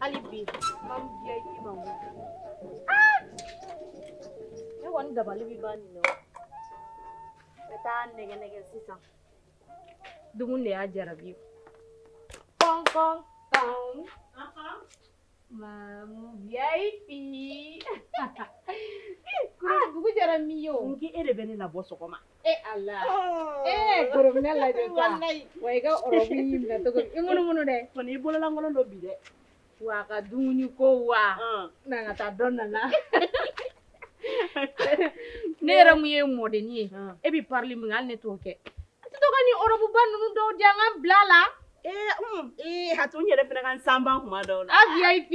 hali bi Mamu VIP ma ah! ne kɔni dabali bɛ ban nin na ka taa nɛgɛ nɛgɛ sisan dumuni de y'a jarabi kɔn kɔn kɔn Mamu VIP. Dugu jɛra min ye o. N k'i e de bɛ ne labɔ sɔgɔma. E Ala ee kɔrɔ bɛ ne lajɛ sa wa i ka ɔrɔbu y'i minɛ cogo min i munumunu dɛ kɔni i bololankolon don bi dɛ wa a ka dumuni ko wa na an ka taa dɔ nana ne yɛrɛ mun ye mɔdenni ye e bɛ parili min kɛ hali ne t'o kɛ a tɛ to ka nin ɔrɔbuba ninnu dɔw di yan n ka n bil'a la ee un ee a to n yɛrɛ fana ka n sanba tuma dɔw la a VIP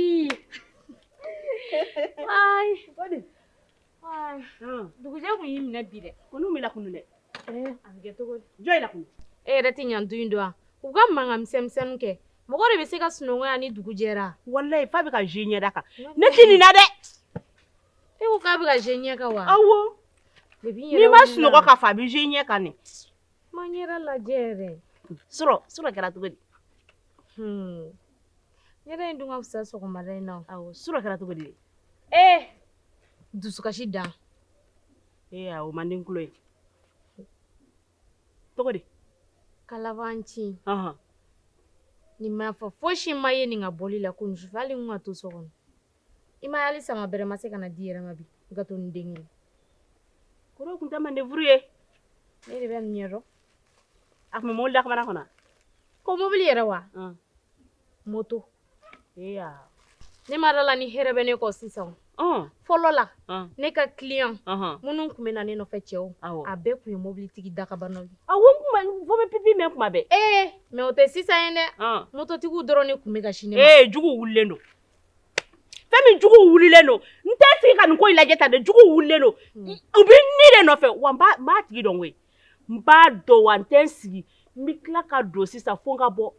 Dugujɛ mun y'i minɛ bi dɛ ko b'i lakunun dɛ jɔn y'i lakunun e yɛrɛ tɛ ɲan du in dɔn wa u ka mankan sɛmɛsɛmɛ kɛ mɔgɔ de bɛ se ka sunɔgɔ yan ni dugu jɛra walahi f'a bɛ ka jɛ i ɲɛda kan ne tɛ nin na dɛ e ko k'a bɛ ka jɛ i ɲɛ kan wa awɔ n'i ma sunɔgɔ ka fa a bɛ jɛ i ɲɛ kan i ma n yɛrɛ lajɛ yɛrɛ surɔ kɛra cogo di yɛrɛ n dun ka fisa sɔgɔma in na awɔ surɔ kɛra cogo di dusukasi dan ee o man di n tulo ye cogo di kalabanci ɔhɔn nin ma fɔ fosi ma ye nin ka bɔli la kunun sufɛ hali n tun ka to so kɔnɔ i m'a ye hali sama bɛrɛ ma se ka na di i yɛrɛ ma bi i ka to nin den kelen kɔrɔ tun tɛ mande furu ye ne de bɛ nin ɲɛdɔn a tun bɛ mobili dakabana kɔnɔ ko mobili yɛrɛ wa moto ne ma d'a la ni hɛrɛ bɛ ne kɔ sisan fɔlɔ la ne ka kiliyan minnu tun bɛ na ne nɔfɛ cɛw a bɛɛ tun ye mobilitigi dakabanaw ye fo aw bɛ pipi mɛn tuma bɛɛ ee mɛ o tɛ sisan ye dɛ mototigiw dɔrɔn de tun bɛ ka sini ee juguw wulilen don fɛn min juguw wulilen don n tɛ sigi ka nin ko in lajɛ tan dɛ juguw wulilen don u bɛ ne de nɔfɛ wa n b'a tigi dɔn koyi n b'a dɔn wa n tɛ n sigi n bɛ tila ka don sisan fo n ka bɔ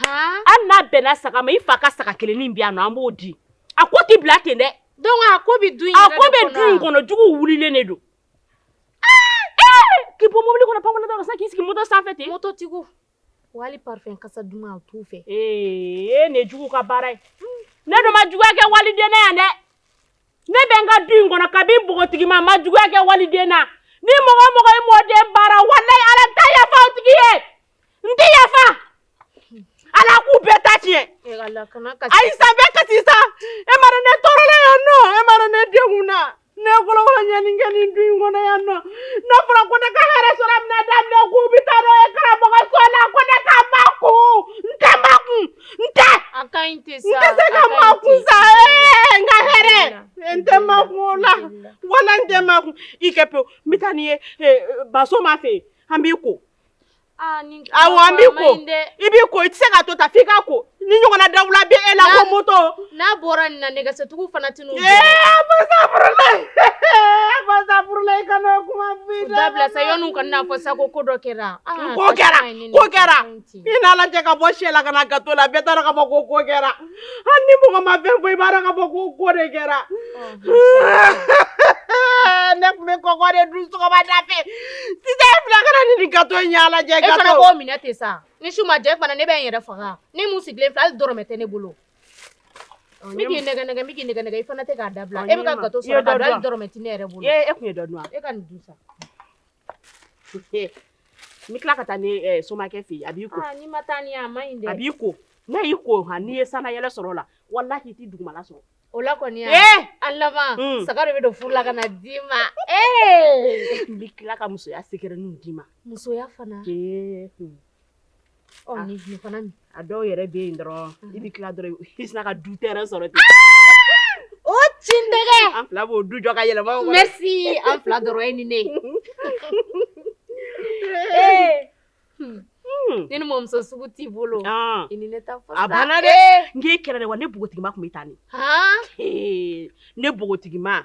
hali n'a bɛnna saga ma i fa ka saga kelennin bɛ yan nɔ an b'o di a ko tɛ bila ten dɛ donc a ko bɛ du in yɛrɛ de kɔnɔ wa a ko bɛ du in kɔnɔ juguw wulilen de don k'i bɔ mobili kɔnɔ pankurun da la sisan k'i sigi moto sanfɛ ten mototigiw Wali parfum kasa duman o t'u fɛ, ee nin ye juguw ka baara ye, ne dun ma juguya kɛ waliden na yan dɛ, ne bɛ n ka du in kɔnɔ kabi npogotigima n ma juguya kɛ waliden na, ni mɔgɔ o mɔgɔ ye mɔden baara walahi Ala n tɛ yafa o tigi ye, n tɛ yafa, Ala k'u bɛɛ ta tiɲɛ, ee Ala kana kasi, ayi sa n bɛ kasi sa, e m'a dɔn ne tɔɔrɔla yan nɔ, e m'a dɔn ne degunna Ne bolo ma ɲɛ nin kɛ nin du in kɔnɔ yan nɔ n'a fɔra ko ne ka hɛrɛ sɔrɔ a bɛna daminɛ k'u bɛ taa n'o ye karamɔgɔso la ko ne ka makun n tɛ makun n tɛ a ka ɲi tɛ sa n tɛ se ka makun sa ee n ka hɛrɛ n tɛ makun o la wala n tɛ makun i kɛ pewu n bɛ taa n'i ye ba soma fɛ yen an b'i ko Ah, aw an b'i ko i bɛ ko i tɛ se ka to tan f'i ka ko ni ɲɔgɔnna dawula bɛ e la ko moto n'a bɔra nin na nɛgɛsotigiw fana tɛ n'u dabila sa yan'u ka n'a fɔ sa ko ko dɔ kɛra ko kɛra ko kɛra i n'a lajɛ ka bɔ syɛ la ka na gato la bɛɛ taara ka bɔ ko ko kɛra hali ni mɔgɔ ma fɛn fɔ i b'a dɔn k'a fɔ ko ko de kɛra ne tun bɛ kɔkɔ de dun sɔgɔmada fɛ sisan e filɛ ka na ni nin gato in y'a lajɛ gato e fana k'o minɛ ten sa ni su ma jɛ fana ne bɛ n yɛrɛ faga ne mun sigilen filɛ hali dɔrɔmɛ tɛ ne bolo n bɛ k'i nɛgɛn nɛgɛn n bɛ k'i nɛgɛn nɛgɛn i fana tɛ k'a dabila e bɛ ka gato sɔrɔ k'a dun hali dɔrɔmɛ tɛ ne yɛrɛ bolo e tun ye dɔ dun wa e ka nin dun sa N tila ka taa ni somakɛ fɛ a b'i ko a b'i ko n'a y'i ko n'i ye san na yɛlɛ sɔrɔ la walayi i tɛ dugumala sɔrɔ o la kɔni a laban saga de bɛ don furu la ka na d'i ma n bɛ tila ka musoya secret nin d'i ma musoya fana A dɔw yɛrɛ bɛ yen dɔrɔn i bɛ tila dɔrɔn i sinna ka du terrain sɔrɔ ten o tin an fila b'o du jɔ ka yɛlɛma merci an fila dɔrɔn e ni ne ni ni mamuso sugu t'i bolo a banna dɛ n k'i kɛlɛ wa ne npogotigiba tun bɛ taa ne npogotigiba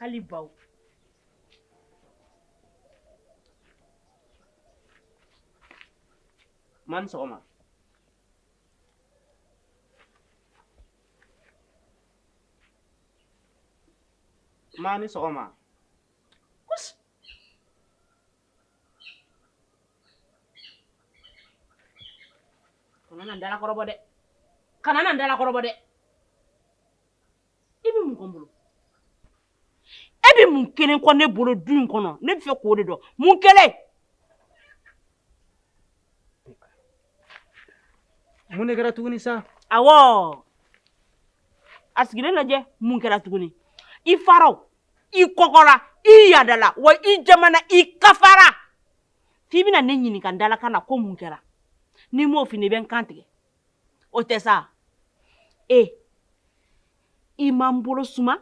hali baw ma ni sɔgɔma ma ni sɔgɔma kana na n dalakɔrɔbɔ dɛ kana na n dalakɔrɔbɔ dɛ i bɛ mun kɔ n bolo e bɛ mun kelen kɔ ne bolo du in kɔnɔ ne bɛ fɛ k'o de dɔn mun kelen mun de kɛra tuguni sa awɔ a sigilen lajɛ mun kɛra tuguni i fara i kɔgɔra i yadala wa i jamana i kafara f'i bɛna ne ɲininka n dalakan na ko mun kɛra ni n m'o f'i ɲɛ i bɛ n kan tigɛ o tɛ sa e i ma n bolo suma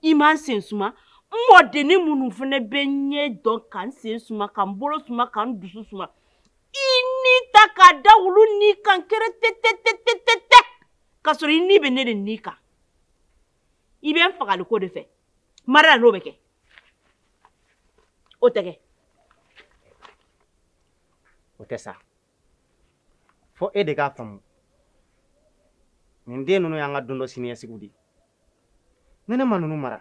i ma n sen suma n mɔdennin minnu fana bɛ ɲɛ dɔn ka n sen suma ka n bolo suma ka n dusu suma i ni ta k'a da olu ni kan kɛrɛtɛtɛ ka sɔrɔ i ni bɛ ne de ni kan i bɛ n fagali ko de fɛ marala n'o bɛ kɛ o tɛ kɛ o tɛ sa fo e de k'a faamu nin den ninnu y'an ka don dɔ siniɲɛsigiw de ye ni ne ma ninnu mara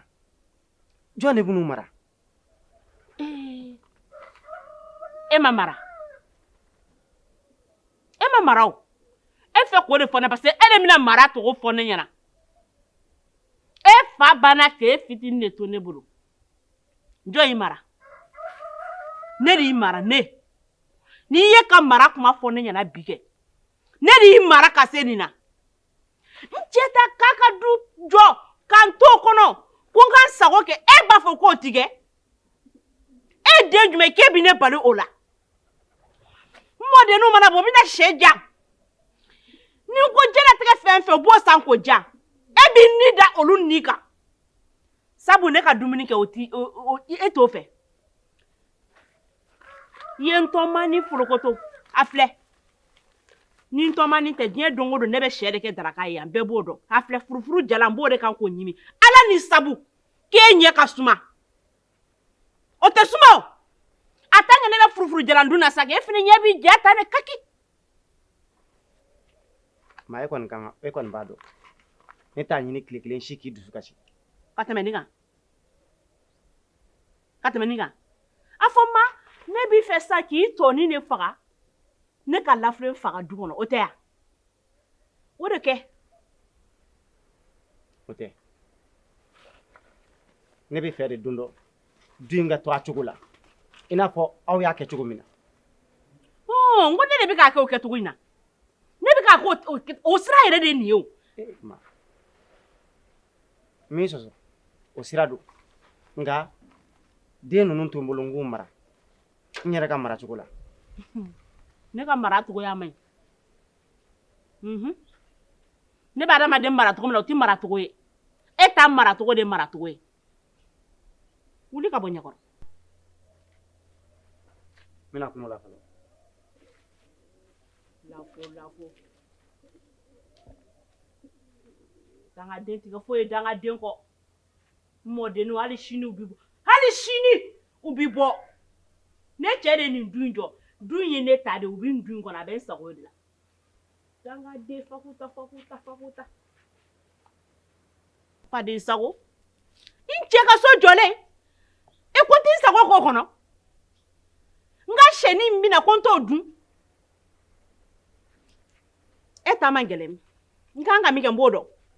jɔn de b'u mara eh, e ma mara e ma mara o e fɛ k'o de fɔ ne parce que e de bɛna mara tɔgɔ fɔ ne ɲɛna e fa banna k'e fitini de to ne bolo jɔn y'i mara ne de y'i mara ne n'i ye ka mara kuma fɔ ne ɲɛna bi kɛ ne de y'i mara ka se nin na n cɛ ta k'a ka du jɔ ka n t'o kɔnɔ ko n ka n sago kɛ e b'a fɔ k'o ti kɛ e den jumɛn k'e bɛ ne bali o la n mɔdenninw mana bɔ n bɛna sɛ ja ni n ko jɛnatigɛ fɛn fɛn u b'o san k'o ja e b'i ni da olu ni kan sabu ne ka dumuni kɛ o ti e t'o fɛ i ye n tɔmanin forokoto a filɛ ni n tɔmanin tɛ diɲɛ don o don ne bɛ sɛ de kɛ daraka ye yan bɛɛ b'o dɔn a filɛ furufuru jalan n b'o de kan k'o ɲimi ala ni sabu k'e ɲɛ ka suma o tɛ suma o a tant que ne bɛ furufuru jalan dun na sa e fana ɲɛ b'i ja ta ne kaki maa e kɔni kan ka e kɔni b'a dɔn ne t'a ɲini tile kelen si k'i dusu kasi ka tɛmɛ nin kan ka tɛmɛ nin kan a fɔ ma ne b'i fɛ sa k'i tɔɔni ne faga ne ka lafere faga du kɔnɔ o tɛ yan o de kɛ o tɛ ne b'a fɛ de don dɔ du in ka to a cogo la i n'a fɔ aw y'a kɛ cogo min na. Ɔɔ n ko ne de bɛ k'a kɛ o kɛcogo in na ne bɛ k'a k'o o kɛ o sira yɛrɛ de ye nin ye o. Ee ma n m'i sɔsɔ o sira don nka den ninnu to n bolo n k'u mara n yɛrɛ ka mara cogo la. ne ka mara cogoya man ɲi unhun ne bɛ adamaden mara cogo min na o tɛ mara cogo ye e ta mara cogo de ye mara cogo ye. wuli ka bɔ n ɲɛkɔrɔ n bɛna kuma la fɔlɔ lafo lafo dangaden ti kɛ foyi ye dangaden kɔ n mɔdenninw hali sini u bi bɔ hali sini u bi bɔ ne cɛ de nin du in jɔ du in ye ne ta de u bi n du in kɔnɔ a bɛ n sago de la sago n cɛ ka so jɔlen e ko n t'i sago k'o kɔnɔ n ka sɛni bɛna ko n t'o dun e ta man gɛlɛn n ka kan ka min kɛ n b'o dɔn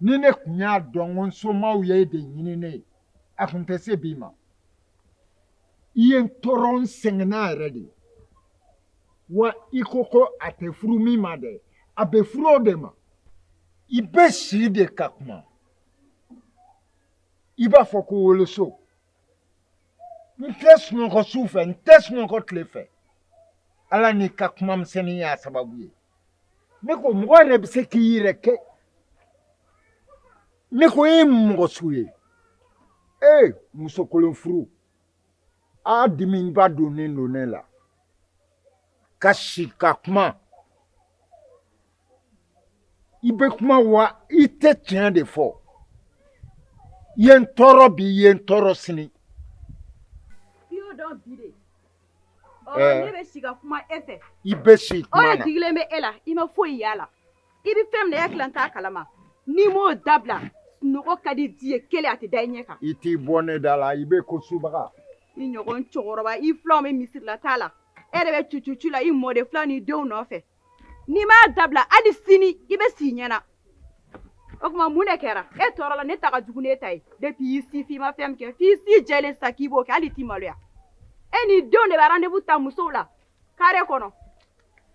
ni ne tun y'a dɔn ko n somaaw ye e de ɲini ne ye a tun tɛ se bi ma i ye n tɔɔrɔ n sɛgɛnna yɛrɛ de wa i ko ko a tɛ furu min ma dɛ a bɛ furu o de ma i bɛ si de ka kuma i b'a fɔ ko woloso n tɛ sunɔgɔ su fɛ n tɛ sunɔgɔ tile fɛ ala n'i ka kuma misɛnnin y'a sababu ye ne ko mɔgɔ yɛrɛ bɛ se k'i yɛrɛ kɛ ne ko e ye mɔgɔ su ye ee muso kolon furu a dimiba donnen don ne la ka si ka kuma i bɛ kuma wa i tɛ tiɲɛ de fɔ i ye n tɔɔrɔ bi i ye n tɔɔrɔ sini Ne bɛ si ka kuma e fɛ i bɛ si o de digilen bɛ e la i ma foyi y'a la i bɛ fɛn min na e hakili t'a kalama n'i m'o dabila sunɔgɔ ka di di ye kelen a tɛ da i ɲɛ kan i t'i bɔ ne da la i bɛ ko subaga i ɲɔgɔn cɛkɔrɔba i fulanw bɛ misiri la taa la e yɛrɛ bɛ tu tu ci la i mɔden fulan ni denw nɔfɛ n'i m'a dabila hali sini i bɛ s'i ɲɛna o tuma mun de kɛra e tɔɔrɔ la ne ta ka jugu n'e ta ye depuis i si fin i ma fɛn min kɛ f'i si jɛlen sa k'i b'o kɛ hali i t'i maloya e n'i denw de bɛ rendez-vous ta musow la kare kɔnɔ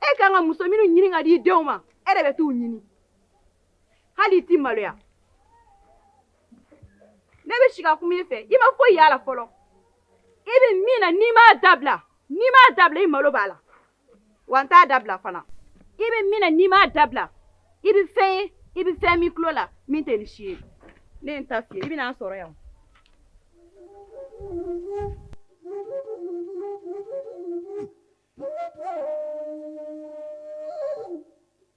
e ka kan ka muso minnu ɲini ka di i denw ma e de bɛ t'u ɲini hali i t'i maloya ne bɛ si ka kuma i fɛ i ma foyi y'a la fɔlɔ i bɛ min na n'i m'a dabila n'i m'a dabila i malo b'a la wa n t'a dabila fana i bɛ min na n'i m'a dabila i bɛ fɛn ye i bɛ fɛn min tulo la min tɛ ni si ye ne ye n ta f'i ye i bɛna n sɔrɔ yan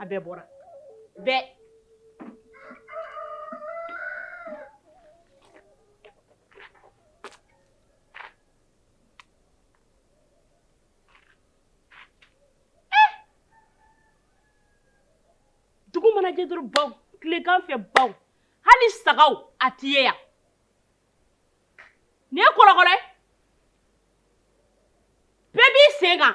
a bɛɛ bɔra bɛɛ dugu mana jɛ dɔrɔn baw tilekan fɛ baw hali sagaw a tɛ ye yan nin ye kɔlɔkɔlɔ ye bɛɛ b'i sen kan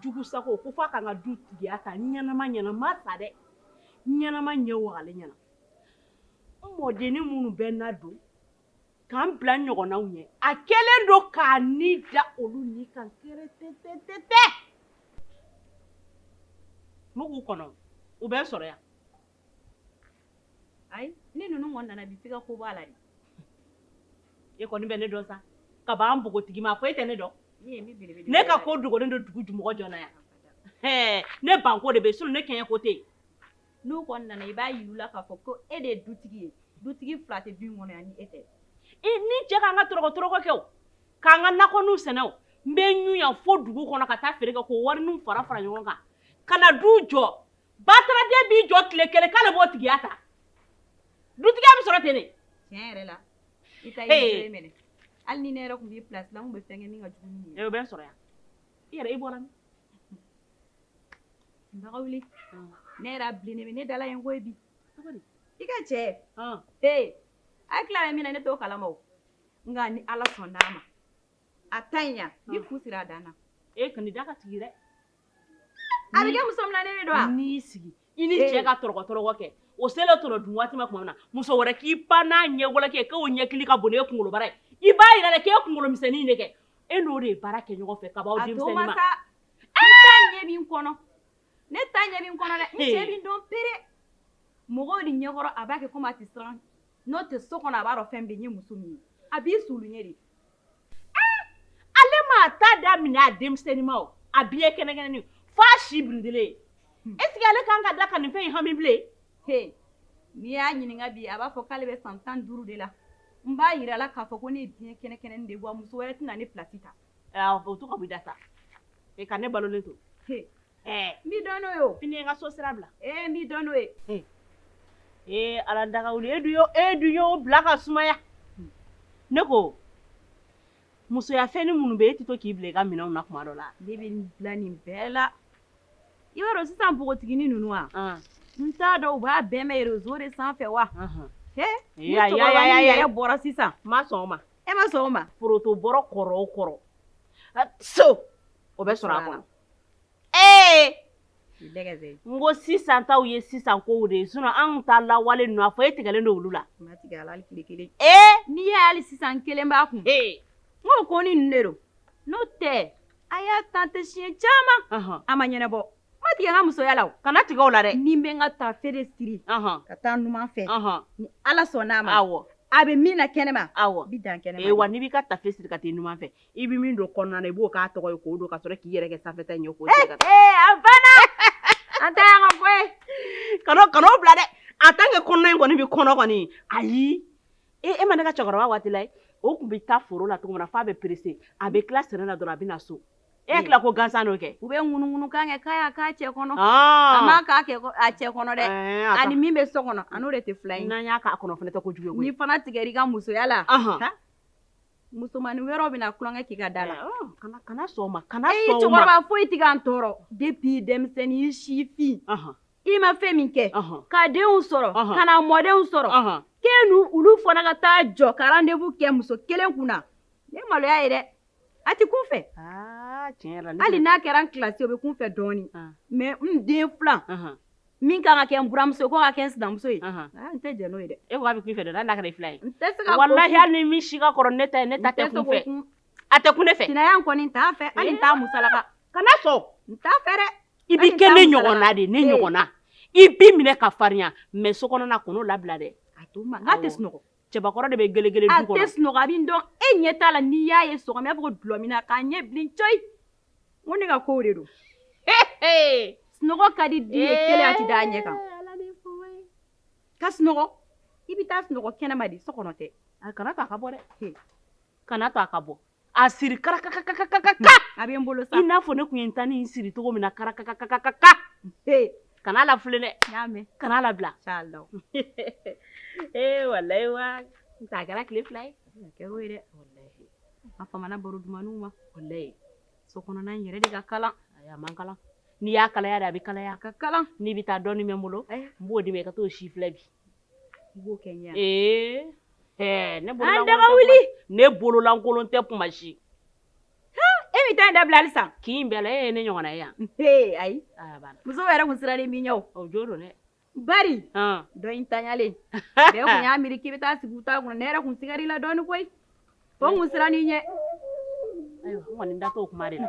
jugu sago ko f'a ka n ka dutigiya ta n ɲɛnama ɲɛna n ma sa dɛ n ɲɛnama ɲɛ wagalen ɲɛna n mɔdennin minnu bɛ n ladon ka n bila n ɲɔgɔnnaw ɲɛ a kɛlen don k'a ni da olu ni kan kɛrɛtɛtɛtɛ n bɛ k'u kɔnɔ u bɛ n sɔrɔ yan Ayi ni ninnu kɔni nana bi f'i ka ko bɔ a la dɛ, e kɔni bɛ ne dɔn sa, ka bɔ an npogotigima a fɔ e tɛ ne dɔn, ne ka ko dogolen don dugu jumɔgɔ jɔn na yan, ɛɛ ne ban ko de bɛ yen sinon ne kɛɲɛ ko tɛ yen, n'u kɔni nana i b'a yira u la k'a fɔ ko e de ye dutigi ye, dutigi fila tɛ du in kɔnɔ yan ni e tɛ, n ni n cɛ k'an ka tɔrɔgɔ-tɔrɔgɔ kɛ o, k'an ka nakɔninw sɛnɛ o, n bɛ ɲun yan fo dugu kɔnɔ ka taa feere kɛ k'o warininw fara-fara ɲɔgɔn kan ka na du jɔ bataraden b'i jɔ tile kelen k'ale b'o tigiya ta dutigiya bɛ sɔrɔ ten de tiɲɛ yɛrɛ la i ta ye minɛ hali ni ne yɛrɛ tun b'i place la n tun bɛ fɛn kɛ min ka jugu ni nin ye u bɛ n sɔrɔ yan i yɛrɛ i bɔra min dagawuli ne yɛrɛ a bilennen bɛ ne da la ye n ko ye bi i ka cɛ ee a ye tila bɛ min na ne t'o kalama o nka ni ala sɔnn'a ma a ta ɲi yan i fu siri a dan na e kɔni da ka tigi dɛ A bɛ kɛ muso minɛ de don n'i y'i sigi i ni cɛ ka tɔrɔgɔ tɔrɔgɔ kɛ o selen tɔnɔ dun waati ma tuma min na muso wɛrɛ k'i pan n'a ɲɛwale kɛ k'o ɲɛkili ka bon n'e kunkolobara ye i b'a yira de k'e kunkolomisɛnnin de kɛ e n'o de ye baara kɛ ɲɔgɔn fɛ ka b'aw denmisɛnninma a to n ma sa ne ta ɲɛ b'i kɔnɔ ne ta ɲɛ b'i kɔnɔ dɛ n cɛ b'i dɔn pere mɔgɔw de ɲɛkɔrɔ a b'a kɛ comme a tɛ siran n'o tɛ so kɔnɔ a b'a dɔn fɛn bɛ ye n ye muso min ye a b'i suuli n ye de ale ma ta daminɛ a denmisɛnninma a biɲɛ kɛnɛkɛnɛnin f'a si birintilen est-ce que ale kan ka da ka nin fɛn in hami bilen n'i y'a ɲininka bi a b'a fɔ k'ale bɛ san tan duuru de la n b'a yir'a la k'a fɔ ko ne biɲɛ kɛnɛkɛnɛnin de wa muso wɛrɛ tɛna ne place ta o to ka b'i da sa e ka ne balolen to n b'i dɔn n'o ye o, fini ye n ka so sira bila, ee n b'i dɔn n'o ye, ee Ala dagawuli e dun e dun y'o bila ka sumaya, ne ko musoya fɛnni minnu bɛ yen e tɛ to k'i bila i ka minɛnw na tuma dɔ la, ne bɛ n bila nin bɛɛ la, i b'a dɔn sisan npogotiginin ninnu wa, an, n t'a dɔn u b'a bɛɛ mɛn reseau de sanfɛ wa, ɔnhɔn, he, ni cɛkɔrɔbanin yɛrɛ bɔra sisan, n ma sɔn o ma, e ma sɔn o ma, poroto bɔrɔ kɔrɔ o kɔrɔ, so, o bɛ sɔrɔ a kɔnɔ ee n ko sisan taw ye sisan ko de ye sinon anw ta lawale ninnu a fɔ e tigɛlen don olu la ee n'i y'a ye hali sisan n kelen b'a kun n ko konin ninnu de don n'o tɛ a y'a tenté siɲɛ caman a ma ɲɛnabɔ n ma tigɛ n ka musoya la o kana tigɛ o la dɛ ni n bɛ n ka tafe de siri ka taa numan fɛ ni ala sɔnn'a ma awɔ a bɛ min na kɛnɛma awɔ bi dan kɛnɛma ee wa n'i b'i ka tafe siri ka t'i numan fɛ i bɛ min don kɔnɔna na i b'o k'a tɔgɔ ye k'o don ka sɔrɔ k'i yɛrɛ kɛ sanfɛta in ye k'o siri ka taa. Ee a banna an ta yan ka bɔ yen kan'o kan'o bila dɛ en tant que kɔnɔna in kɔni bɛ kɔnɔ kɔni ayi e e ma ne ka cɛkɔrɔba waati la ye o tun bɛ taa foro la cogo min na f'a bɛ perese a bɛ tila sɛnɛ na dɔrɔn a bɛ na so e hakili la ko gansan n'o kɛ. u bɛ ŋunuŋunukan kɛ k'a y'a ka cɛ kɔnɔ a m'a k'a kɛ kɔ- a cɛ kɔnɔ dɛ Ɛɛ, a ka- ani min bɛ so kɔnɔ a n'o de tɛ fila ye n'an y'a k'a kɔnɔ fana tɛ ko jugu ye koyi. n'i fana tigɛr'i ka musoya la Ahan. ha, Musomannin wɛrɛw bɛna tulonkɛ k'i ka da la kana sɔn o ma kana sɔn o ma cɛkɔrɔba foyi tɛ k'an tɔɔrɔ depuis denmisɛnnin i sifin i ma fɛn min kɛ ka denw sɔrɔ ka na mɔdenw sɔrɔ k'e n'olu fana ka taa jɔ ka rendez-vous kɛ muso kelen kun na ne maloya ye dɛ a tɛ kun fɛ hali n'a kɛra n kilasi o bɛ kun fɛ dɔɔnin mais n den filan Min ka kan ka kɛ n buranmuso ye k'o ka kɛ n sinamuso ye n tɛ jɛn n'o ye dɛ e ko a bɛ kun fɛ dɛ n'a kɛra i filan ye n tɛ se walayi hali ni min si ka kɔrɔ ne ta ye ne ta tɛ kun fɛ a tɛ kun ne fɛ sinaya kɔni n t'a fɛ hali n t'a musalaka kana sɔn n t'a fɛ dɛ i b'i kɛ ne ɲɔgɔn na de ne ɲɔgɔn na i b'i minɛ ka farinya mais so kɔnɔna kan'o labila dɛ a to tɛ sunɔgɔ cɛbakɔrɔ de bɛ gelegele du kɔnɔ, a tɛ sunɔgɔ a bɛ n dɔn e ɲɛ t'a la n'i y'a ye sɔgɔma i b'a fɔ ko dulɔminna k'a ɲɛ bilen coyi n ko ne ka kow de don sunɔgɔ ka di den ye kelen a tɛ da a ɲɛ kan ka sunɔgɔ i bɛ taa sunɔgɔ kɛnɛma de so kɔnɔ tɛ a kana to a ka bɔ dɛ kana to a ka bɔ A siri karakaka a bɛ n bolo i n'a fɔ ne tun ye n ta nin siri cogo min na karakaka kana lafulɛn dɛ kana labila inshallah walayi wa n ta kɛra tile fila ye dɛ a famana baro dumanw ma walayi so kɔnɔna yɛrɛ de ka kalan a man kalan n'i y'a kalaya de a bɛ kalaya a ka kalan n'i bɛ taa dɔɔnin bɛ n bolo n b'o di i ma i ka t'o sifilɛ bi ne bololankolon tɛ kuma si e m'i ta in dabila halisa kin in bɛɛ la e ye ne ɲɔgɔn ye yan ayi muso yɛrɛ tun sirannen b'i ɲɛ o jo don dɛ bari dɔ in tanyalen bɛɛ tun y'a miiri k'i bɛ taa sigi u ta kun na ne yɛrɛ tun sigar'i la dɔɔnin koyi fo n tun sirann'i ɲɛ ayiwa n kɔni da t'o kuma de la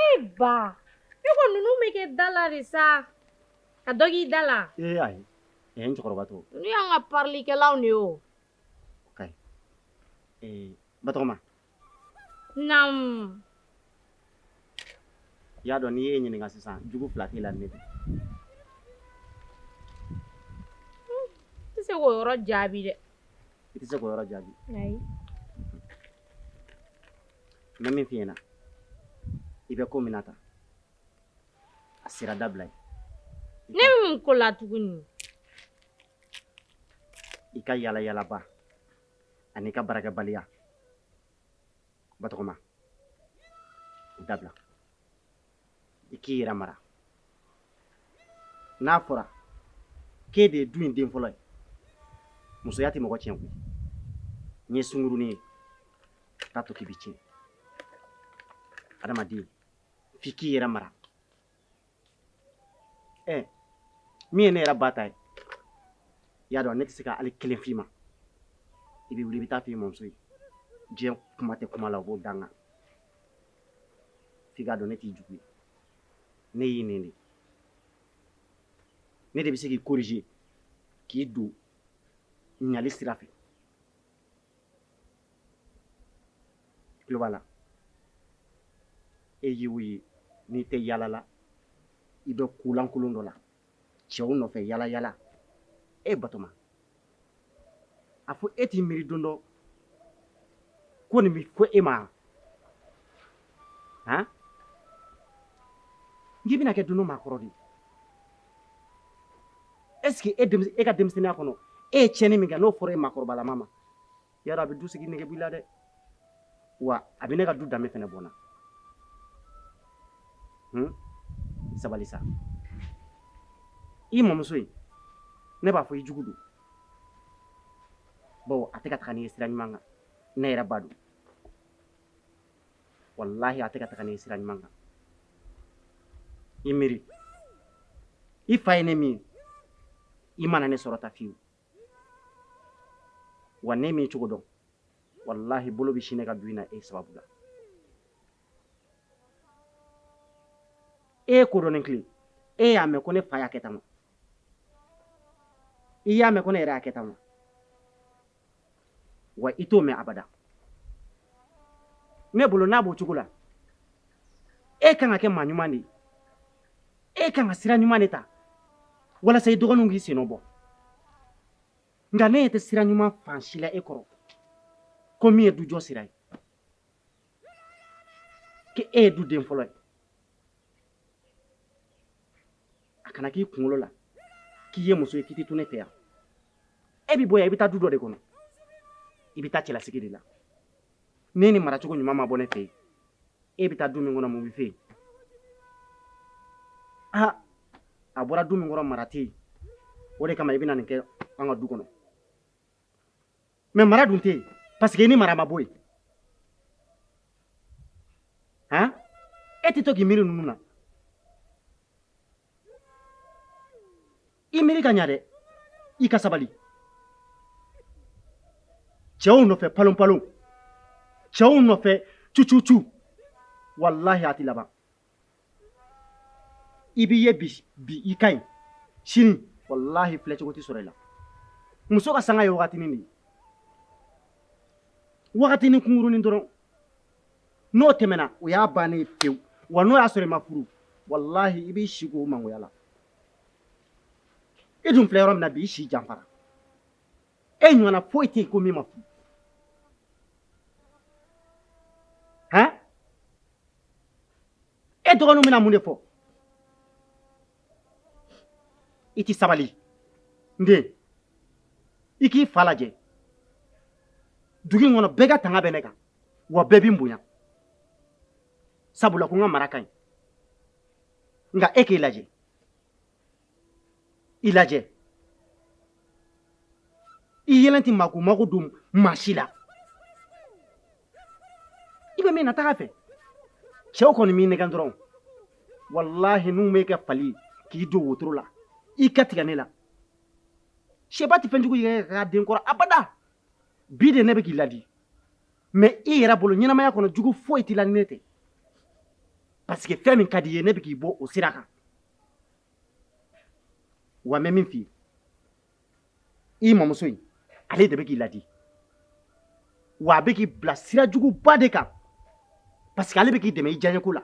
Ee ba e ko ninnu bɛ kɛ da la de sa ka dɔ k'i da la ee ayi n cɛkɔrɔba to ninnu y'an ka parilikɛlaw de ye o ok Batɔgɔma naamu i y'a dɔn n'i ye n ɲininka sisan jugu fila t'i la ne de n tɛ se k'o yɔrɔ jaabi dɛ i tɛ se k'o yɔrɔ jaabi ayi n bɛ min f'i ɲɛna i bɛ ko min na tan a sira dabila ye ne bɛ mun ko la tuguni i ka yala yalaba ani i ka baarakɛbaliya batɔgɔma dabila i k'i yɛrɛ mara n'a fɔra k'e de ye du in den fɔlɔ ye musoya tɛ mɔgɔ tiɲɛ koyi n ye sunkurunin ye t'a to k'i bɛ tiɲɛ adamaden f'i k'i yɛrɛ mara ɛ min ye ne yɛrɛ ba ta ye i y'a dɔn ne tɛ se ka hali kelen f'i ma i bɛ wuli i bɛ taa f'i mɔmuso ye diɲɛ kuma tɛ kuma la o b'o dan kan F'i k'a dɔn ne t'i jugu ye ne y'i nɛni de ne de bɛ se k'i corriger k'i don ɲali sira fɛ i tulo b'a la e ye o ye n'i tɛ yaala la i bɛ ko lankolon dɔ la cɛw nɔfɛ yala yala e batoma a fɔ e t'i miiri don dɔ ko nin bɛ fɔ e ma han n'i bɛna kɛ don dɔ maakɔrɔ de ye est ce que e ka denmisɛnninya kɔnɔ e ye tiɲɛni min kɛ n'o fɔra e maakɔrɔbalama ma ya a bɛ du sigi nege b'i la dɛ wa a bɛ ne ka du danbe fɛnɛ bɔ n na sabali sa i mɔmuso in ne b'a fɔ i jugu don bawo a tɛ ka taga n'i ye sira ɲuman kan ne yɛrɛ ba don walahi a tɛ ka taga n'i ye sira ɲuman kan i miiri i fa ye ne min i ma na ne sɔrɔ tan fiyewu wa ne m'i cogo dɔn walahi bolo bɛ sin ne ka du in na e sababu la e kodɔn tile e y'a mɛn ko ne fa y'a kɛ tan i y'a mɛn ko ne yɛrɛ y'a kɛ tan wa wa i t'o mɛn abada ne bolo n'a b'o cogo la e kan ka kɛ maa ɲuman de ye e kan ka sira ɲuman de ta walasa i dɔgɔninw k'i sennɔ bɔ nka ne ɲɛ tɛ sira ɲuman fan si la e kɔrɔ ko min ye dujɔ sira ye k'e ye duden fɔlɔ ye a kana k'i kunkolo la k'i ye muso ye k'i tɛ to ne fɛ yan e bɛ bɔ yan i bɛ taa du dɔ de kɔnɔ i bɛ taa cɛlasigi de la n'e ni maracogo ɲuman ma bɔ ne fɛ yen e bɛ taa du min kɔnɔ mun bɛ fɔ yen aa a bɔra du min kɔnɔ mara tɛ yen o de kama i bɛ na nin kɛ an ka du kɔnɔ mais mara dun tɛ yen parce que i ni mara ma bɔ yen han e tɛ to k'i miiri ninnu na i miiri ka ɲa dɛ i ka sabali cɛw nɔfɛ palonpalon cɛw nɔfɛ cucucu walahi a tɛ laban i b'i ye bi bi i ka ɲi sini walahi filɛcogo tɛ sɔrɔ i la muso ka sanga ye wagatinin de ye wagatinin kunkurunin dɔrɔn n'o tɛmɛna o y'a bannen ye pewu wa n'o y'a sɔrɔ i ma furu walahi i b'i si k'o mangoya la i dun filɛ yɔrɔ min na bi i si janfara e ɲɔgɔnna foyi tɛ yen ko min ma furu han e dɔgɔninw bɛna mun de fɔ i tɛ sabali n den i k'i fa lajɛ dugu in kɔnɔ bɛɛ ka tanga bɛ ne kan wa bɛɛ bɛ n bonya sabula ko n ka mara ka ɲi nka e k'i lajɛ i lajɛ i yɛrɛ tɛ mako mako don maa si la i bɛ min na taga fɛ cɛw kɔni m'i nɛgɛn dɔrɔn walahi n'u m'e kɛ fali k'i don wotoro la i ka tigɛ ne la sɛba tɛ fɛn jugu yɛrɛk'a den kɔrɔ abada bi de ne bɛ k'i ladi mais i yɛrɛ bolo ɲɛnamaya kɔnɔ jugu foyi t'i la ni ne tɛ parce que fɛn min ka di i ye ne bɛ k'i bɔ o sira kan wa n bɛ min f'i ye i mamuso in ale de bɛ k'i ladi wa a bɛ k'i bila sira juguba de kan parce que ale bɛ k'i dɛmɛ i diyaɲeko la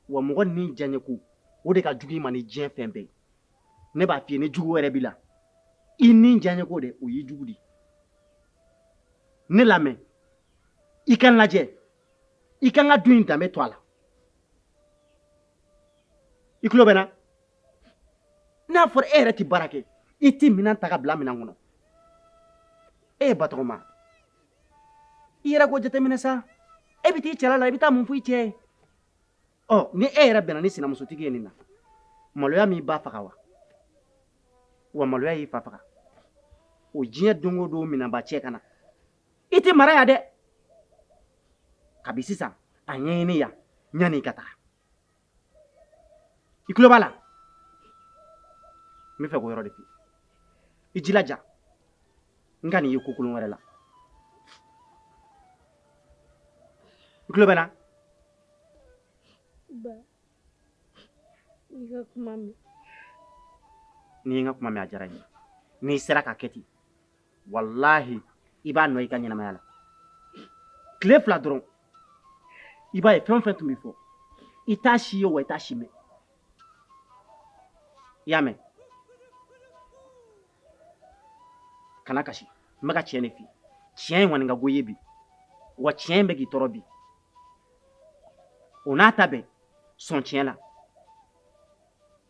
wa mɔgɔ ni diyaɲeko o de ka jugu i ma ni diɲɛ fɛn bɛɛ ye ne b'a f'i ye ni jugu wɛrɛ b'i la i ni diyaɲeko de o y'i jugu di ne lamɛn i ka n lajɛ i ka n ka du in danbe to a la i tulo bɛ n na n'a fɔra e yɛrɛ tɛ baara kɛ i tɛ minɛn ta ka bila minɛn kɔnɔ ee batɔgɔma i yɛrɛ ko jateminɛ sa e bɛ t'i cɛla la i bɛ taa mun fɔ i cɛ ye ɔ ni e yɛrɛ bɛnna ni sinamusotigi ye nin na maloya m'i ba faga wa wa maloya y'i fa faga o diɲɛ don o don minɛnba cɛ ka na i tɛ mara yan dɛ kabi sisan a ɲɛɲini yan yanni i ka taa i tulo b'a la n b'a fɛ k'o yɔrɔ de f'i ye i jilaja n kan'i ye ko kolon wɛrɛ la i tulo bɛ n na ba i ka kuma mɛn n'i ye n ka kuma mɛn a diyara n ye n'i sera k'a kɛ ten walahi i b'a nɔ i ka ɲɛnamaya la tile fila dɔrɔn i b'a ye fɛn o fɛn tun bɛ fɔ i t'a si ye wa i t'a si mɛn i y'a mɛn kana kasi n bɛ ka tiɲɛ de f'i ye tiɲɛ in kɔni ka go i ye bi wa tiɲɛ in bɛ k'i tɔɔrɔ bi o n'a ta bɛɛ sɔn tiɲɛ la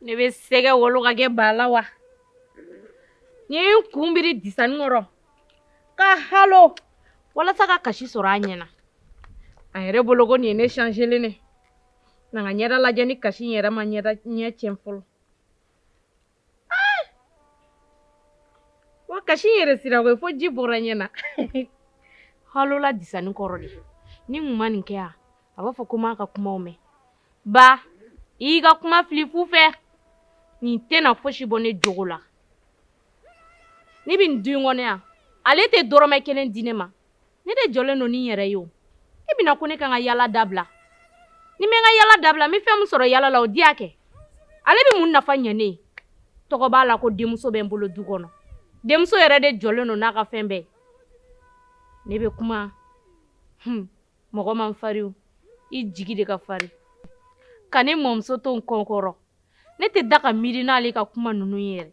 ne bɛ sɛgɛ wolo ka kɛ ba la wa n ye n kun biri disani kɔrɔ ka halo walasa ka kasi sɔrɔ a ɲɛna a yɛrɛ bolo ko nin ye ne changelen ne na n ka ɲɛda lajɛ ni kasi in yɛrɛ ma ɲɛ tiɲɛ fɔlɔ wa kasi in yɛrɛ sira koyi fo ji bɔra ɲɛ na halo la disani kɔrɔ de ni n kun ma nin kɛ yan a b'a fɔ ko n m'a ka kumaw mɛn ba i y'i ka kuma fili fu fɛ nin tɛna fosi bɔ ne jogo la ne bɛ nin du in kɔnɔ yan ale tɛ dɔrɔmɛ kelen di ne ma ne de jɔlen don ni n yɛrɛ ye o e bɛna ko ne kan ka yala dabila ni n bɛ n ka yala dabila n bɛ fɛn min sɔrɔ yala la o diya kɛ ale bɛ mun nafa ɲɛ ne ye tɔgɔ b'a la ko denmuso bɛ n bolo du kɔnɔ denmuso yɛrɛ de jɔlen don n'a ka fɛn bɛɛ ne bɛ kuma mɔgɔ man farin i jigi de ka farin ka ne mɔmuso to n kɔkɔrɔ ne tɛ da ka miiri n'ale ka kuma ninnu yɛrɛ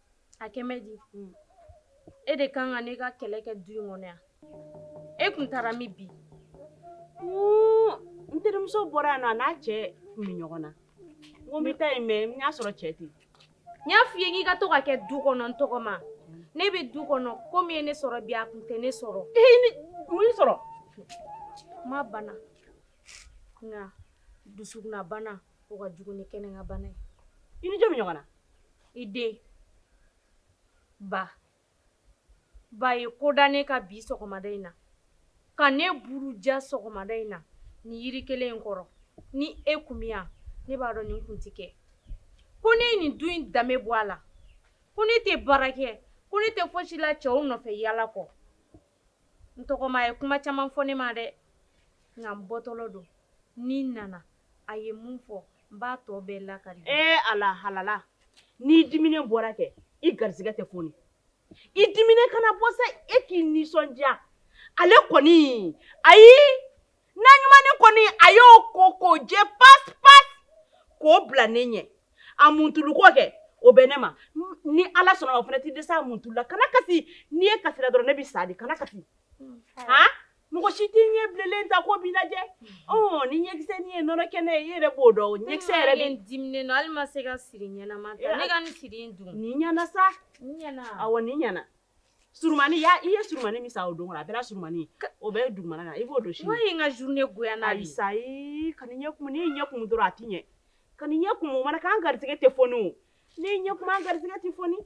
a kɛ bɛ di e de kan ka ne ka kɛlɛ kɛ du in kɔnɔ yan e kun taara min bi n terimuso bɔra yan nɔ a n'a cɛ kun bɛ ɲɔgɔn na n ko n bɛ taa yen mɛ n y'a sɔrɔ cɛ tɛ yen n y'a f'i ye k'i ka to ka kɛ du kɔnɔ n tɔgɔma n'e bɛ du kɔnɔ ko min ye ne sɔrɔ bi a kun tɛ ne sɔrɔ mun y'i sɔrɔ n ma bana nka dusukunna bana o ka jugu ni kɛnɛ ka bana ye i ni jɔn bɛ ɲɔgɔn na i den baba ye ko da ne kan bi sɔgɔmada in na ka ne buruja sɔgɔmada in na ni yiri kelen in kɔrɔ ni e kun bɛ yan ne b'a dɔn nin kun ti kɛ ko ne ye nin du in danbe bɔ a la ko ne tɛ baara kɛ ko ne tɛ fosi la cɛw nɔfɛ yala kɔ n tɔgɔma a ye kuma caman fɔ ne ma dɛ nka n bɔtɔlɔ don ni n nana a ye mun fɔ n b'a tɔ bɛɛ lakari ee ala halala n'i diminen bɔra kɛ i garisɛgɛ tɛ foni i diminen kana bɔ sa e k'i nisɔndiya ale kɔni ayi na ɲumannin kɔni a y'o ko k'o jɛ pasi pasi k'o bila ne ɲɛ a muntuluko kɛ o bɛ ne ma ni ala sɔnna o fana tɛ dɛsɛ a muntulula kana kasi n'i ye kasira dɔrɔn ne bɛ sa de kana kasi mm, han mɔgɔ si t'i ɲɛ bilenlen ta ko b'i lajɛ ɔ ni ɲɛkisɛ nin ye nɔnɔ kɛnɛ ye i yɛrɛ b'o dɔn o ɲɛkisɛ yɛrɛ de diminen don hali ma se ka siri ɲɛnama ta ne ka nin siri in dun nin ɲɛna sa nin ɲɛna awɔ nin ɲɛna Surunmani ya i ye surunmani min san o don kɔnɔ a bɛɛ la surunmani o bɛ dugumana na i b'o don sini, walahi n ye n ka journée goya n'a ye, ayi sa ee kan'i ɲɛ kumu n'i y'i ɲɛ kumu dɔrɔn a tɛ ɲɛ kan'i ɲɛ kumu o mana kɛ an garisigɛ tɛ foni o n'i y'i ɲɛ kumu an garisigɛ tɛ foni,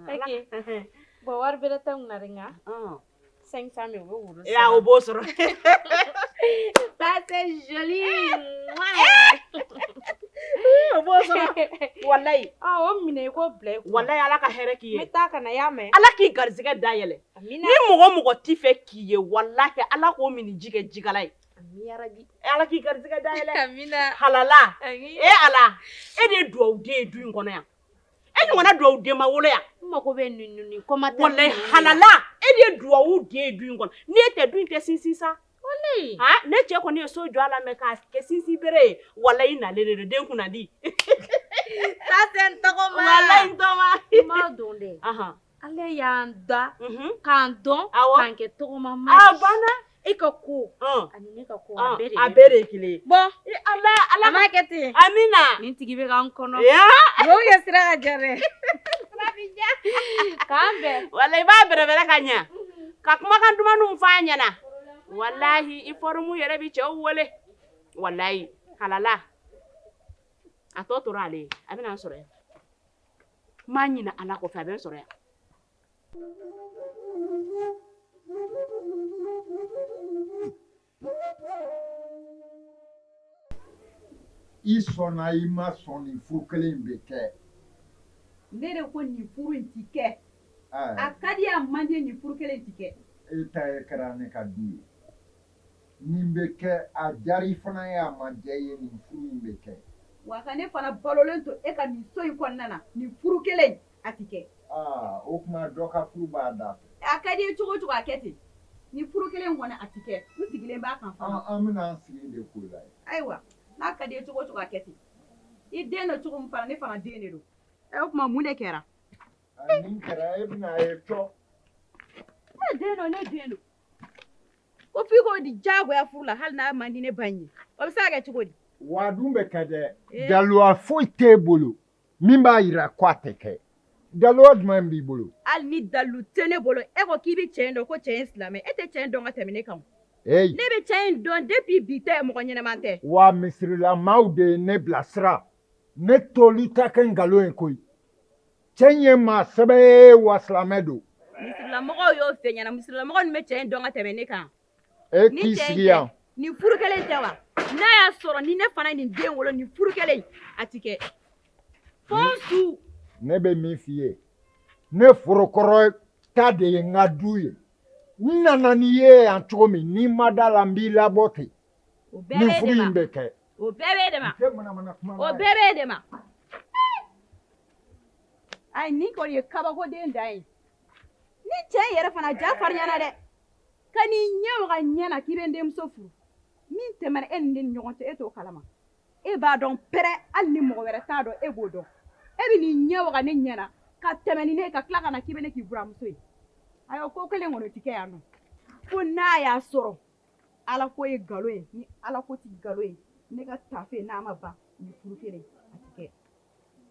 ok bon wari bɛrɛ tɛ n kun na dɛ nka 500 000 o bɛ e o b'o sɔrɔ ça c'est joli o b'o sɔrɔ walayi o minɛ i k'o bila walayi ala ka hɛrɛ k'i ye taa ka na y'a mɛn ala k'i garijɛgɛ da yɛlɛ ni mɔgɔ o mɔgɔ t'i fɛ k'i ye walahi ala k'o minniji kɛ jikalan ye ala k'i garijɛgɛ da yɛlɛ halala e ala e de ye dugawuden ye du in kɔnɔ yan e ɲɔgɔnna dugawuden ma wolo yan mago bɛ ninnu kɔma walayi halala e de ye dugawuden du in kɔnɔ ni e tɛ du in tɛ sinsin sa ne cɛ kɔni ye so jɔ a la mɛ k'a kɛ sinsin bere ye walayi i nalen de don den kunna di n tɔgɔma n tɔgɔma n m'a dɔn dɛ Ala y'an da k'an dɔn k'an kɛ tɔgɔma ma a banna e ka ko ani ne ka ko a bɛɛ de kelen bon ala ala m'a kɛ ten amiina nin tigi bɛ k'an kɔnɔ kɛ sira ka gɛrɛ k'an bɛn walayi i b'a bɛrɛ bɛrɛ ka ɲɛ ka kumakan dumanninw f'a ɲɛna walahi i forme yɛrɛ bɛ cɛw wele walayi halala a tɔ tora ale a bɛna n sɔrɔ N ma ɲina ala kɔ fɛ a bɛ n sɔrɔ yan i sɔnna i ma sɔn nin furu kelen bɛ kɛ ne de ko nin furu in tɛ kɛ a ka di a man di nin furu kelen tɛ kɛ e ta ye kɛra ne ka du ye Nin bɛ kɛ a diyara i fana ye a ma diya i ye nin furu in bɛ kɛ wa ka ne fana balolen to e ka nin so in kɔnɔna na nin furu kelen in a tɛ kɛ aa o tuma dɔ ka furu b'a da fɛ a ka di i ye cogo o cogo a kɛ ten nin furu kelen in kɔni a tɛ kɛ n sigilen b'a kan fana an bɛna an sigi de k'o lajɛ ayiwa n'a ka di i ye cogo o cogo a kɛ ten i den don cogo min fana ne fana den de don ɛ o tuma mun de kɛra nin kɛra e bɛna a ye cɔ ne den don ne den don Ko f'i k'o di jagoya furu la hali n'a man di ne ba ye o bɛ se ka kɛ cogo di wa dun bɛ kɛ dɛ daluwa foyi t'e bolo min b'a yira ko a tɛ kɛ daluwa jumɛn b'i bolo hali ni dalu tɛ ne bolo e ko k'i bɛ cɛ dɔn ko cɛ in silamɛ e tɛ cɛ dɔn ka tɛmɛ ne kan ne bɛ cɛ in dɔn depuis bi tɛ mɔgɔ ɲɛnama tɛ wa misirilamaw de ye ne bilasira ne t'olu ta kɛ nkalon ye koyi Cɛ ye maa sɛbɛ ye wa silamɛ don misirilamɔgɔw y'o f'e ɲɛna misirilamɔgɔ bɛ cɛ in dɔn ka tɛmɛ ne kan ni sigi yan nin furu kelen tɛ wa n'a y'a sɔrɔ ni ne fana nin den wolo nin furu kelen a tɛ kɛ fo su ne bɛ min f'i ye ne forokɔrɔ ta de ye n ka du ye n nana n'i ye yan cogo min n'i ma da la n b'i labɔ ten nin furu in bɛ kɛ o bɛɛ b'e de ma o bɛɛ b'e de ma ayi nin kɔni ye kabakoden dan ye nin cɛ in yɛrɛ fana ja farinyana dɛ ka n'i ɲɛ waga ɲɛ na k'i bɛ n denmuso furu min tɛmɛna e ni ne ni ɲɔgɔn cɛ e t'o kalama e b'a dɔn pɛrɛ hali ni mɔgɔ wɛrɛ t'a dɔn e b'o dɔn e bɛ n'i ɲɛ waga ne ɲɛ na ka tɛmɛ ni ne ye ka tila ka na k'i bɛ ne k'i buramuso ye ayiwa ko kelen kɔni o tɛ kɛ yan nɔ fo n'a y'a sɔrɔ ala ko ye nkalon ye ni ala ko tɛ nkalon ye ne ka tafe n'a ma ban nin furu kelen a tɛ kɛ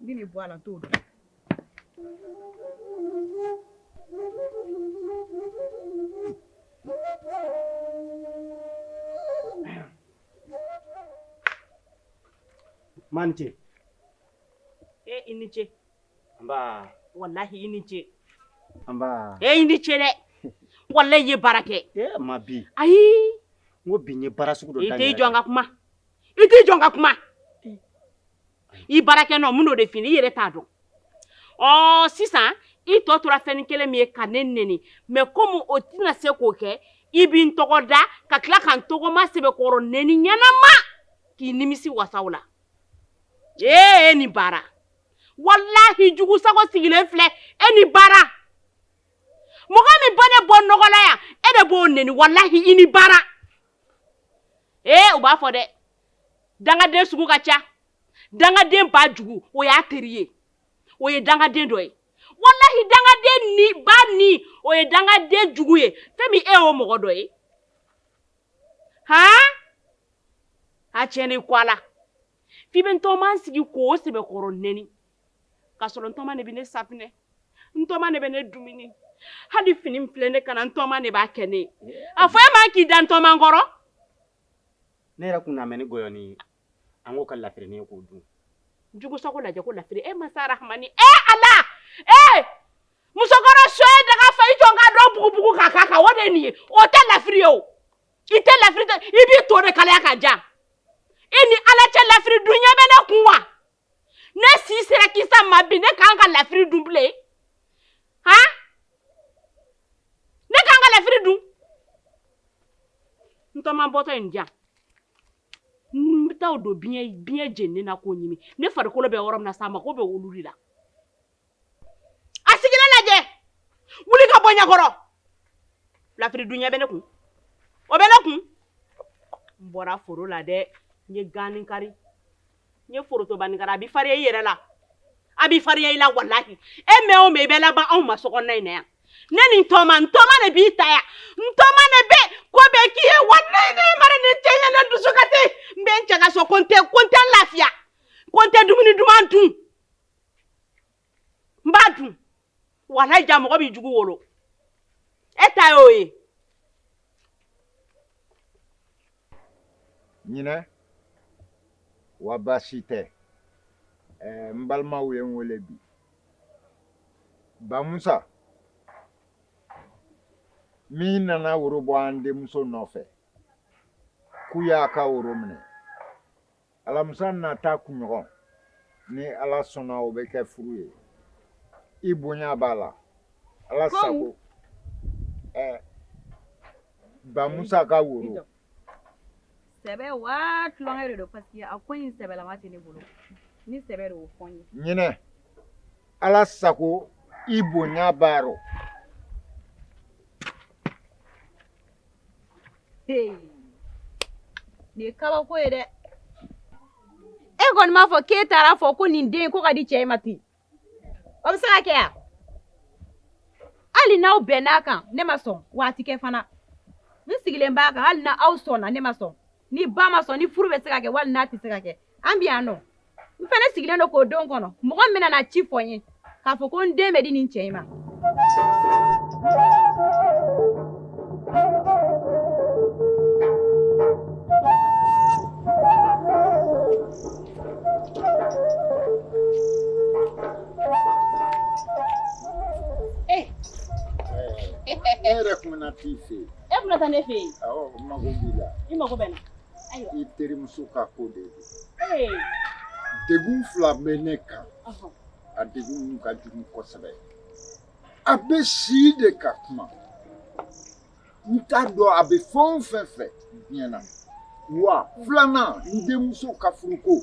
N bɛ nin bɔ a la n t'o man ce e i ni ce nba walahi i ni ce nba e i ni ce dɛ walahi i ye baara kɛ e ma bi ayi n ko bi i ye baara sugu dɔ daminɛ i t'i jɔ n ka kuma i t'i jɔ n ka kuma i baarakɛ nɔ min o de fini i yɛrɛ t'a dɔn ɔ sisan i tɔ tora fɛn kelen min ye ka ne neni mɛ komi o tɛna se k'o kɛ i bɛ n tɔgɔ da ka tila ka n tɔgɔma sɛbɛkɔrɔ neni ɲɛnama k'i nimisi wasaw la ee e ni baara walahi jugu sago sigilen filɛ e ni baara mɔgɔ min bɛ ne bɔ nɔgɔ la yan e de b'o neni walahi i ni baara ee u b'a fɔ dɛ dangaden sugu ka ca dangaden ba jugu o y'a teri ye o ye dangaden dɔ ye walahi dangaden ni ba ni o ye dangaden jugu ye fɛn min e y'o mɔgɔ dɔ ye han a tiɲɛnen kɔ a la f'i bɛ n tɔma sigi k'o sɛbɛkɔrɔ nɛni k'a sɔrɔ n tɔma de bɛ ne safinɛ n tɔma de bɛ ne dumuni hali fini min filɛ ne kan na n tɔma de b'a kɛ ne ye a fɔ e ma k'i da n tɔma kɔrɔ ne yɛrɛ kun na mɛ ni gɔyɔni ye an k'o kɛ lafirini ye k'o dun jugu sago lajɛ ko lafiri e masa rahamani e ala e musokɔrɔ so ye daga fa i jɔ ka dɔ bugubugu ka k'a kan o de ye nin ye o tɛ lafiri ye o i tɛ lafiri tɛ i b'i to de kalaya ka ja i ni ala cɛ lafiri dun ɲɛ bɛ ne kun wa ne si sera kisa ma bi ne k'an ka lafiri dun bilen han ne k'an ka lafiri dun n tɔma bɔtɔ in diya n bɛ taa o don biɲɛ biɲɛ jeninen na k'o ɲimi ne farikolo bɛ yɔrɔ min na sa a mako bɛ olu de la a sigilen lajɛ wuli ka bɔ ɲɛkɔrɔ lafiri dun ɲɛ bɛ ne kun o bɛ ne kun n bɔra foro la dɛ n ye ganin kari n ye forotobanin kari a bɛ fariya i yɛrɛ la a bɛ fariya i la walahi e mɛn o mɛn i bɛ laban anw ma sokɔnɔna in na yan ne ni n tɔma n tɔma de b'i ta yan n tɔma de bɛ ko bɛɛ k'i ye walayi ne mana nin cɛ ye ne dusu kasi n bɛ n cɛ ka so ko n tɛ ko n tɛ lafiya ko n tɛ dumuni duman dun n b'a dun walayi ja mɔgɔ b'i jugu wolo e ta y'o ye ɲinɛ wa baasi tɛ ɛɛ n balimaw ye n wele bi bamusa min nana woro bɔ an denmuso nɔfɛ k'u y'a ka woro minɛ alamisa nata kunɲɔgɔn ni ala sɔnna o bɛ kɛ furu ye i bonya b'a la ala sago ɛɛ bamusa ka woro sɛbɛ wa tulonkɛ de don paseke a ko in sɛbɛlama tɛ ne bolo ni sɛbɛ de y'o fɔ n ye ɲinɛ ala sago i bonya b'a rɔ nin ye kabako ye dɛ e kɔni m'a fɔ k'e taara a fɔ ko nin den ko ka di cɛ ma ten o bɛ se ka kɛ yan hali n'aw bɛnn'a kan ne ma sɔn wa a tɛ kɛ fana n sigilen b'a kan hali n'aw sɔnna ne ma sɔn ni ba ma sɔn ni furu bɛ se ka kɛ wali n'a tɛ se ka kɛ an bɛ yan nɔ n fana sigilen don k'o don kɔnɔ mɔgɔ min bɛna ci fɔ n ye k'a fɔ ko n den bɛ di nin cɛ in ma e yɛrɛ E bɛna taa ne fɛ yen n mago b'i la i mago bɛ n na i terimuso ka ko de don degun fila bɛ ne kan a degun ka jugu kosɛbɛ a bɛ si de ka kuma n t'a dɔn a bɛ fɛn o fɛn fɛ diɲɛ na wa filanan n denmuso ka furuko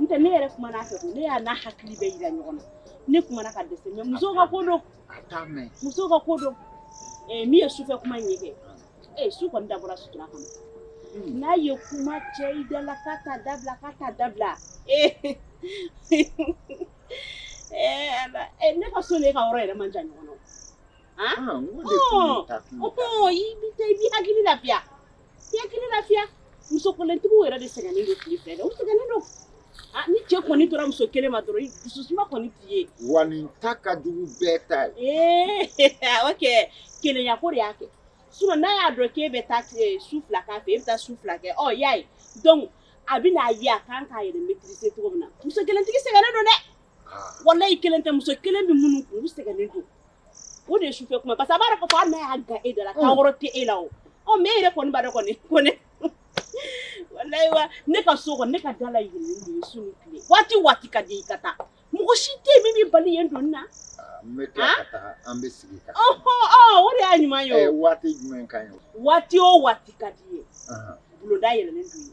n tɛ ne yɛrɛ kumana a fɛ ko ne y'a n'a hakili bɛɛ yira ɲɔgɔn na ne kumana ka dɛsɛ mais musow ka ko don musow ka ko don min ye sufɛ kuma in ye kɛ ee su kɔni dabɔra sutura kama n'a ye kuma cɛ i da la k'a ta dabila k'a ta dabila ee ne ka so ne ka yɔrɔ yɛrɛ man jan ɲɔgɔn na o i b'i hakili lafiya Hakili lafiya muso kelentigiw yɛrɛ de sɛgɛnnen don tile fɛ u sɛgɛnnen don ni cɛ kɔni tora muso kelen ma dɔrɔn dusu suma kɔni t'i ye wa nin ta ka jugu bɛɛ ta ye ee kɛ kelenya ko de y'a kɛ s n'a y'a dɔn k'e bɛ taa su fila k'a fɛ e bɛ taa su fila kɛ ɔ y'a ye donc a bɛ n'a ye a kan k'a yɛrɛ maîtriser cogo min na muso kelentigi sɛgɛnnen don dɛ walayi i kelen tɛ muso kelen bɛ minnu u sɛgɛnnen don O de ye sufɛ kuma ye parce que a b'a dɔn k'a fɔ hali n'a y'a gan e da la kan wɛrɛ tɛ e la o, ɔ mais e yɛrɛ kɔni b'a dɔn kɔni ko ne walayi wa ne ka so kɔni ne ka da layɛlɛlen don su ni tile waati o waati ka d'i ye i ka taa mɔgɔ si tɛ yen min b'i bali yen donni na, aa n bɛ tila ka taa an bɛ sigi ka kuma, ɔhɔ ɔ o de y'a ɲuman ye o, ɛ waati jumɛn ka ɲi o, waati o waati ka d'i ye bulonda yɛlɛlen don i ye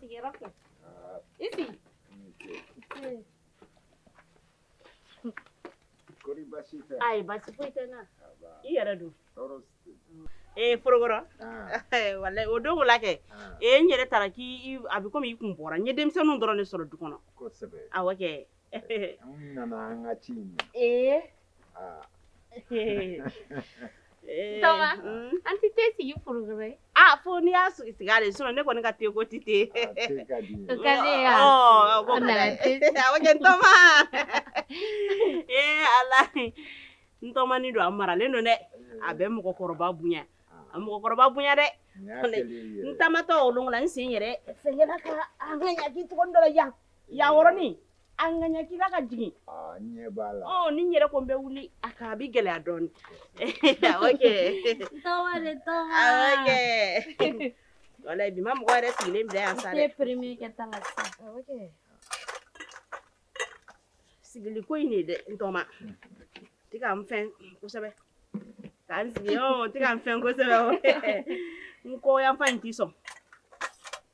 Sigiyɔrɔ kɛ. I sigi. Kori basi tɛ. Ayi, basi foyi tɛ n na. I yɛrɛ don. Tɔɔrɔ si tɛ. Ee Forokɔrɔ. Walayi o don ko la kɛ. Ee n yɛrɛ taara k'i a bɛ komi i kun bɔra. N ye denmisɛnninw dɔrɔn de sɔrɔ du kɔnɔ. Kosɛbɛ. Awɔ kɛ. nana an ka ci in na ee ntɔma an tɛ te sigi Forokɔrɔ ye a fo n'i y'a sigi sigi ale sinɔn ne kɔni ka te ko tɛ te ka di ye ka ne ya ko nana te awɔ kɛ ntɔma ee ala ntɔmani don a maralen don dɛ a bɛ mɔgɔkɔrɔba bonya a mɔgɔkɔrɔba bonya dɛ n taamatɔ o lon ko la n sen yɛrɛ fɛngɛla ka an ka ɲaki togo dɔ la yan Yan yɔrɔnin a ɲakila ka jigin ni n yɛrɛ ko n bɛ wuli a ka a bɛ gɛlɛya dɔɔnin walayi bi ma mɔgɔ yɛrɛ sigilen bɛ yan sa sigili ko in dɛ ntɔma tɛ ka n fɛn kosɛbɛ ka n sigi tɛ ka n fɛn kosɛbɛ n kɔ yan fan in t'i sɔn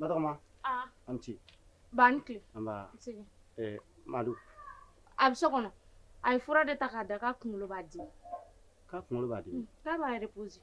Batɔgɔma aa a' ni ce ba ni tile nba i sigi ɛɛ Madu a bɛ so kɔnɔ a ye fura de ta k'a da k'a kunkolo b'a dimi k'a kunkolo b'a dimi k'a b'a reposer